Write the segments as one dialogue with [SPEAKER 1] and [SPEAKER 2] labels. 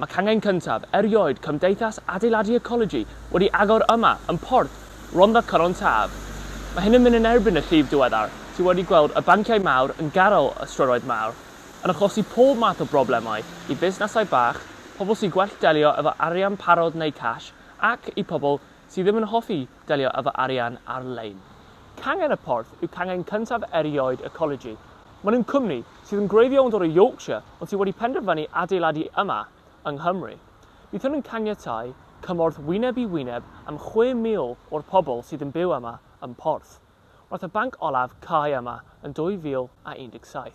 [SPEAKER 1] Mae cangen cyntaf erioed Cymdeithas Adeiladu Ecologi wedi agor yma yn Porth Rhondda Cynon Taf. Mae hyn yn mynd yn erbyn y llif diweddar sydd wedi gweld y banciau mawr yn garyl y strydoedd mawr, yn achosi pob math o broblemau i fusnesau bach, pobl sy'n gwell delio efo arian parod neu cash ac i pobl sydd ddim yn hoffi delio â fy arian ar-lein. Cangen y Porth yw cangen cyntaf erioed y Colegii. Maen nhw'n cwmni sydd yn gwreiddio yn dod o Yorkshire ond sydd wedi penderfynu adeiladu yma yng Nghymru. Byddwn yn caniatáu cymorth wyneb i wyneb am 6,000 o'r pobl sydd yn byw yma ym Porth, wrth y banc olaf cau yma yn 2017.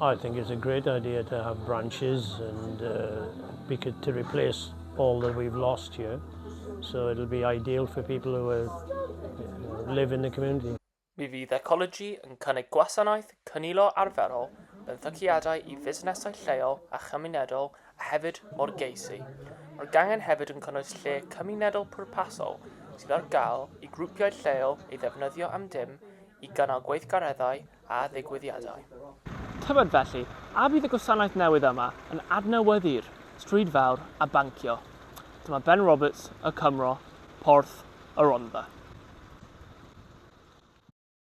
[SPEAKER 2] I think it's a
[SPEAKER 3] great idea to have branches and uh, to replace all that we've lost here. So it'll be ideal for people who are, uh, live in the community. Mi fydd Ecology
[SPEAKER 1] yn cynnig gwasanaeth cynilo arferol mewn thyciadau i fusnesau lleol a chymunedol a hefyd mor geisi. Mae'r gangen hefyd yn cynnwys lle cymunedol pwrpasol sydd ar gael i grwpiau lleol ei ddefnyddio am dim i gynnal gweithgareddau a ddigwyddiadau. Tybed felly, a fydd y gwasanaeth newydd yma yn adnewyddu'r stryd fawr a bancio? Dyma Ben Roberts, Y Cymro, Porth y Rhondda.